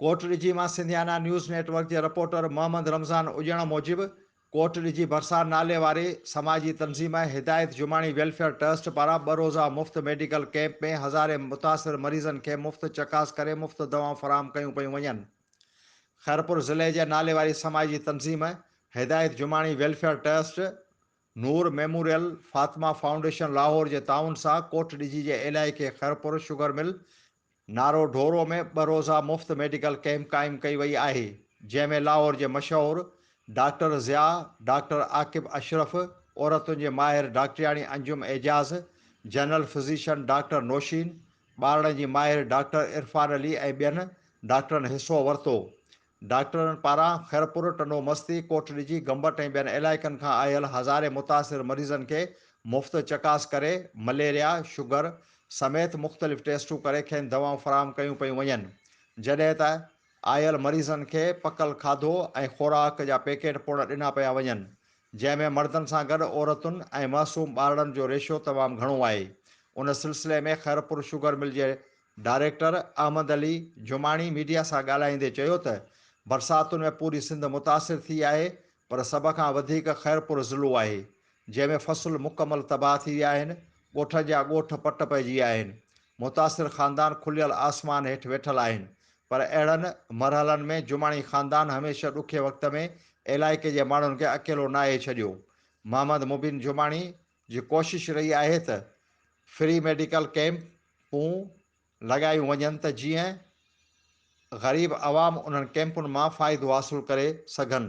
ڪوٽ ڏجي مان Sindhiana news network جي reporter Muhammad Ramzan اڄڻ موجب ڪوٽ ڏجي ڀرسان نالي واري سماجي تنظيم هدايت جماڻي ويلفيئر ٽرسٽ پاران ٻه روزه مفت ميڊيڪل ڪيمپ ۾ هزارين متاثر مريضن کي مفت چڪاس ڪري مفت دوائون فراهم ڪيون پيون وڃن خيرپور ضلعي جي نالي واري سماجي تنظيم Hidayat Jamani welfare trust Noor memorial Fatima foundation Lahore جي تعاون سان ڪوٺ ڏجي جي علائقي خيرپور شگر مل نارو ڍورو ۾ ٻه روزه مفت ميڊيڪل ڪئمپ قائم ڪئي وئي آهي جنهن ۾ لاهور جي مشهور ڊاڪٽر ضياء ڊاڪٽر عاقب اشرف عورتن جي ماهر ڊاڪٽرياڻي Anjum Ijaz general physician doctor Nosheen ٻارڙن جي ماهر ڊاڪٽر عرفان علي ۽ ٻين ڊاڪٽرن حصو ورتو ڊاڪٽرن پاران خيرپور، ٽنڊو مستي، ڪوٽ ڏجي، گمبٽ ۽ ٻين علائقن کان آيل هزارين متاثر مريضن کي مفت چڪاس ڪري، مليريا، شگر سميت مختلف ٽيسٽون ڪري کين دوائون فراهم ڪيون پيون وڃن، جڏهن ته آيل مريضن کي پڪل کاڌو ۽ خوراڪ جا پيڪيٽ پڻ ڏنا پيا وڃن، جنهن ۾ مردن سان گڏ عورتن ۽ معصوم ٻارڙن جو ريشو تمام گهڻو آهي، ان سلسلي ۾ خيرپور شگر مل جي ڊائريڪٽر احمد علي جماڻي ميڊيا سان ڳالهائيندي چيو ته برساتن ۾ پوري سنڌ متاثر ٿي آهي پر سڀ کان وڌيڪ خيرپور ضلعو آهي جنهن ۾ فصل مڪمل تباهه ٿي ويا آهن ڳوٺن جا ڳوٺ پٽ پئجي ويا آهن متاثر خاندان کليل آسمان هيٺ ويٺل آهن پر اهڙن مرحلن ۾ جماڻي خاندان هميشه ڏکي وقت ۾ علائقي جي ماڻهن کي اڪيلو ناهي ڇڏيو محمد مبين جماڻي جي ڪوشش رهي آهي ته فري ميڊيڪل ڪيمپون لڳايون وڃن ته جيئن غريب عوام انهن ڪيمپن مان فائدو حاصل ڪري سگهن.